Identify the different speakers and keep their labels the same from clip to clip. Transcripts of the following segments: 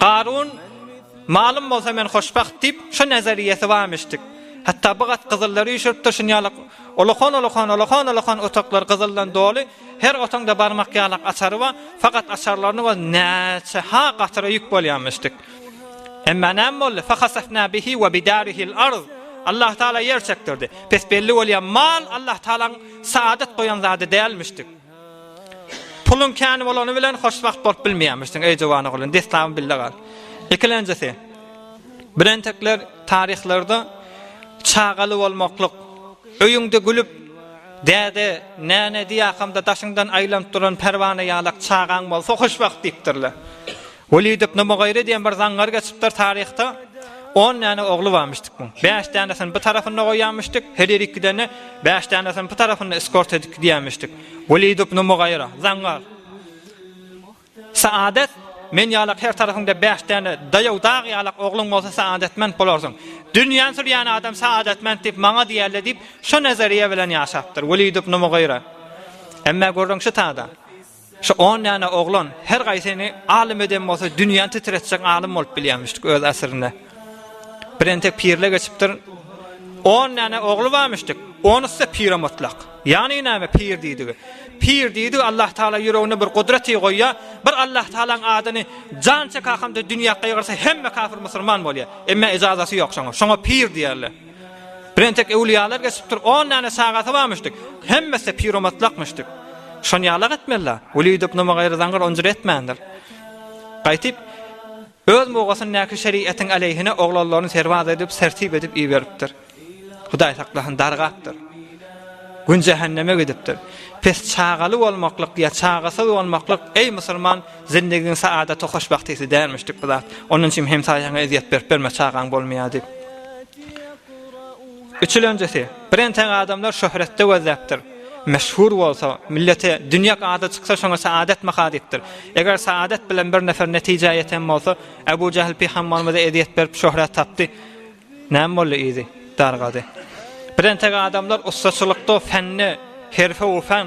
Speaker 1: Garun, Malym bolsa men hoşbagt diýip, şo nazarýesi barmyşdyk. Hatda bu gat gyzyllary üýşüripdir, şun ýaly olahan-olahan, olahan-olahan otaglar gyzyldan doly, her otaňda barmak ýalak açary bar, fakat açarlaryny biz näçe-ha gatyra ýük bolýarmyşdyk. Emma näme boldy? Fahasafna bihi we bidarihil arz. Allah Taala ýer çekdirdi. Pes belli bolýar, mal Allah Taalaň saadat goýan zady dälmişdik. Puluň kän bolany bilen hoşwagt bolup bilmeýärmişsiň, eý Jowanoglyn, dessabam bille gal. Ikilenjisi, birentekler taryhlarda çagaly bolmaklyk, öýüňde gülüp, däde, näne diýýärkam-da daşyňdan aýlanyp duran pärwana ýalak çagaň bolsa hoşwagt diýipdirler. Welid ibn Mugyry diýen bir zaňňar geçipdir taryhda. On däne ogly barmyşdyk bu. Bäş dänesini bu tarapynda goýýarmyşdyk, her ýeri iki däne, bäş dänesini bu tarapynda eskort edip gidýärmişdik. Welid ibn Mugyra, zaňňar. Saadet Men ýalak her tarapyňda bäş däne daýaw dag ýalak ogluň bolsa saadetment bolarsyň. Dünýäni sürýän adam saadetment diýip maňa diýerler diýip, şu nazariýa bilen ýaşapdyr. Welid ibn Mugyra. Emma görüň şu tada. Şu on däne oglan her gaýsyny alym eden bolsa dünýäni titretjek alym bolup bilýärmişdik öz asyrynda. Birentek pirle geçipdir. On däne ogly barmyşdyk. Onusy pire mutlak. Ýagny näme pir diýdigi? Pir diýdi Allah Taala ýüregine bir gudraty goýýa, bir Allah Taalaň adyny jan çek hakamda dünýä gygyrsa hemme kafir musulman bolýa. Emma ejazaty ýok şoňa. Şoňa pir diýerler. Bir entek öwlüýalar geçipdir, on däne çagasy barmyş dik. Hemmesi piromatlakmyş dik. Şony ýalak etmeli-le. Weli döp numa gaýry zaňňyr onjur etmändir. Gaýtyp, öz mugasyndaky şeriýetiň aleýhine oglanlaryny serbaz edip, sertip edip iberipdir. Hudaý saklasyn, dargapdyr. Gün jähenneme gidipdir. Pes çagaly bolmaklyk ýa çagasyz bolmaklyk, eý, musulman, Zindigiň saadaty hoşbagtysy dälmişdik bu zat. Onuň üçin hemsaýaňa ezýet berip berme, çagaň bolmaýar diýip. Üçülenjisi, birentek adamlar şöhratda gözläpdir. Meşhur bolsa, millete dünýek ady çyksa şoňa saadat maha diýipdir. Eger saadat bilen bir nefer netijä ýeten bolsa, Abu Jahl pyhambarymyza ezýet berip şöhrat tapdy. Näme boldy yzy? Dargady. Birentek adamlar ussaçylykda, fende, herfe-u-fen,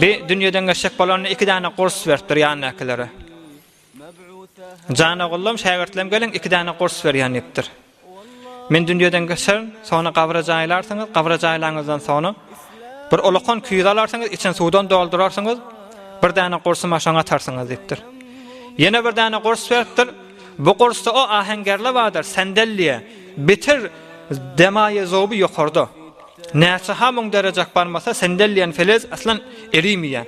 Speaker 1: Bi dünýeden geçjek bolanda iki däne gurs beripdir ýanydakilere. Jan ogullam, şägirtlem geliň, iki däne gurs berýän diýipdir. Men dünýeden geçerin, soňra gabra jaýlarsyňyz, gabra jaýlaňyzdan soňra bir ulakan küýze alarsyňyz, içini suwdan doldurarsyňyz, bir däne gursumy şoňa atarsyňyz diýipdir. Ýene bir däne gurs beripdir. Bu gursda o aheňgerle bardyr, sendellýe, bitir demaýe zoby ýokarda. Näçe ha müň derejek barmasa sendel diýen felez aslan erimeýär.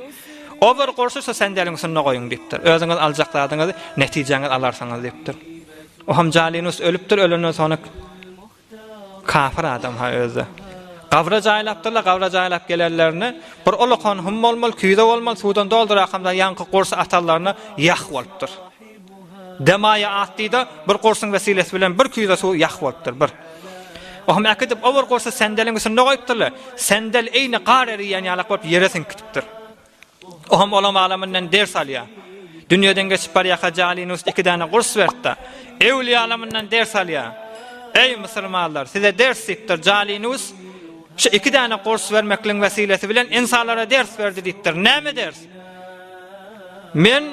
Speaker 1: O bir gurşy şu sendeliň üstünde goýuň diýipdir. Özüňiz aljak zadyňyzy netijäňiz alarsyňyz diýipdir. Oham Jalinus ölüpdir ölenden soňra kafir adam ha özde. Gabra jaýlapdyrlar, gabra jaýlap gelenlerine bir ulakan hum bolmaly, küýze bolmaly, suwdan doldurakam da ýaňky gurşy atanlaryna ýah bolupdyr. Demaýa atdy-da, bir gursuň wesilesi bilen bir küýze suw ýah bolupdyr, bir. Ohm äkidip, o bir gursy sendeliň üstünde goýupdyr-la, sendel eýni gar eriýän ýalak bolup ýere siňip gitipdir. Ohm olam alamyndan ders alýar. Dünýeden geçip barýarka Jalinus iki däne gurs beripdir. Öwlüýe alamyndan ders alýar. Eý, musulmanlar, size ders diýipdir. Jalinus şu iki däne gurs bermekligiň wesilesi bilen insanlara ders berdi diýipdir. Näme ders? Men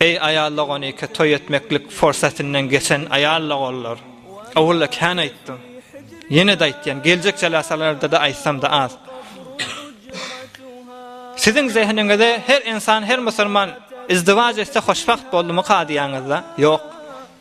Speaker 1: Eý aýallag on iki toý etmeklik forsatynyň geçen aýallag ollar. Owalda kän aýtdym. Ýene-de aýtýan, geljek jalasalarda-da aýtsam-da az. Siziň zehiniňize her insan, her musulman izdiwaj etse hoşbagt boldumy kadýaňyzda? Ýok.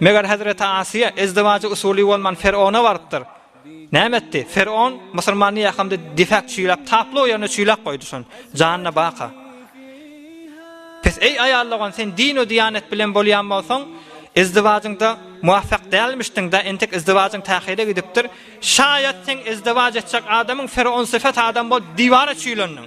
Speaker 1: Meger hezreti Asiýa ezdiwajy usuly bolman Ferona barypdyr. Näme etdi? Feron musulmany ýakamda disäp çüýläp taply o ýerine çüýläp goýdy şon. Janyna baka. Pes eý aýal dogan sen din we diýanet bilen bolýan bolsaň ezdiwajyňda muwafak dälmişdiň da entek ezdiwajyň tähire gidipdir. Şaýat sen ezdiwaj etjek adamyň Feron syfat adam bolup diwara çüýlendiň.